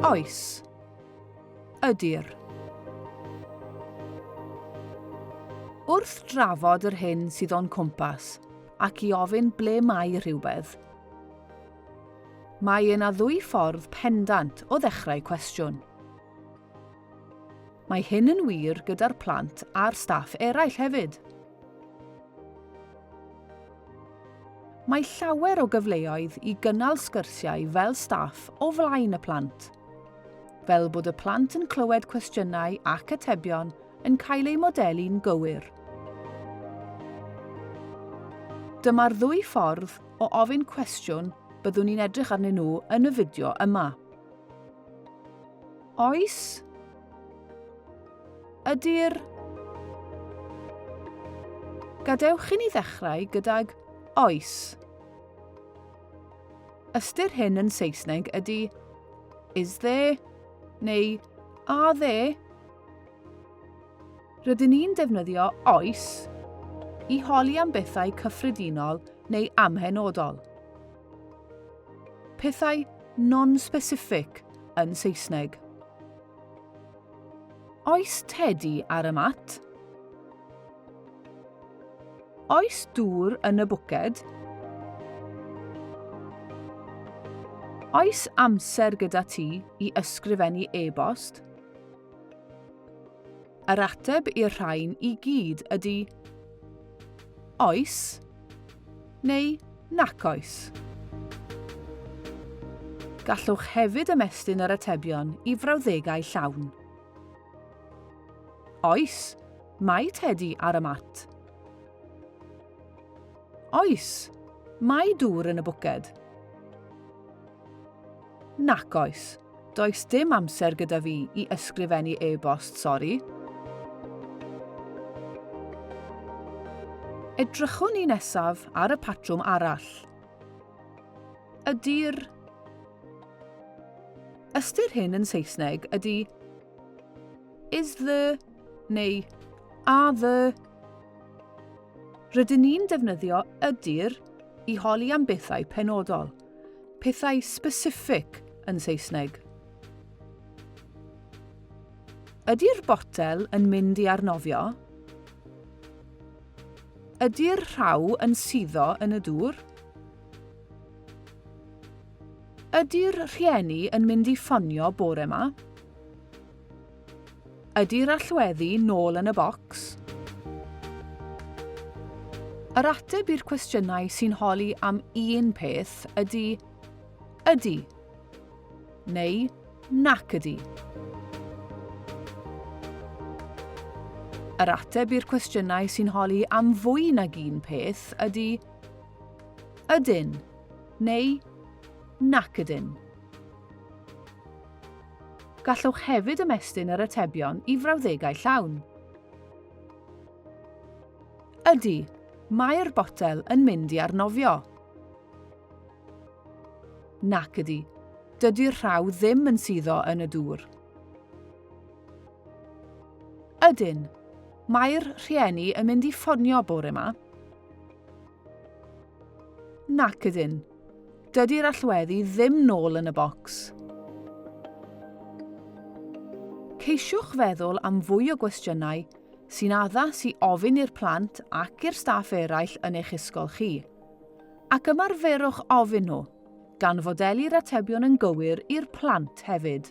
Oes. Ydy'r. Wrth drafod yr hyn sydd o'n cwmpas ac i ofyn ble mae rhywbeth, mae yna ddwy ffordd pendant o ddechrau cwestiwn. Mae hyn yn wir gyda'r plant a'r staff eraill hefyd. Mae llawer o gyfleoedd i gynnal sgyrsiau fel staff o flaen y plant, fel bod y plant yn clywed cwestiynau ac atebion yn cael eu modelu'n gywir. Dyma'r ddwy ffordd o ofyn cwestiwn byddwn ni'n edrych arnyn nhw yn y fideo yma. Oes? Ydy'r... Gadewch i ni ddechrau gydag oes. Ystyr hyn yn Saesneg ydy is there neu are there. Rydyn ni'n defnyddio oes i holi am bethau cyffredinol neu amhenodol. Pethau non-specific yn Saesneg. Oes tedi ar y mat? Oes dŵr yn y bwced? Oes amser gyda ti i ysgrifennu e-bost? Yr ateb i'r rhain i gyd ydy Oes. neu nac oes. Gallwch hefyd ymestyn yr atebion i frawddegau llawn. Oes, mae Tedi ar y mat. Oes, mae dŵr yn y bwced. Nac oes. Does dim amser gyda fi i ysgrifennu e-bost, sori. Edrychwn ni nesaf ar y patrwm arall. Ydy'r Ystyr hyn yn Saesneg ydy is the neu are the. Rydyn ni'n defnyddio ydy'r i holi am bethau penodol. Pethau specific yn Saesneg. Ydy'r botel yn mynd i arnofio? Ydy'r rhaw yn suddo yn y dŵr? Ydy'r rhieni yn mynd i ffonio bore 'ma? Ydy'r allweddi nôl yn y bocs? Yr ateb i'r cwestiynau sy'n holi am un peth ydy ydy neu nac ydy. Yr ateb i'r cwestiynau sy'n holi am fwy nag un peth ydy ydyn neu nac ydyn. Gallwch hefyd ymestyn yr atebion i frawddegau llawn. Ydy, mae'r botel yn mynd i arnofio. Nac ydy, dydy'r rhaw ddim yn suddo yn y dŵr. Ydyn, mae'r rhieni yn mynd i ffonio bore yma. Nac ydyn, Dydy'r allweddi ddim nôl yn y bocs. Ceisiwch feddwl am fwy o gwestiynau sy'n addas i ofyn i'r plant ac i'r staff eraill yn eich ysgol chi, ac ymarferwch ofyn nhw, gan fodeli'r atebion yn gywir i'r plant hefyd.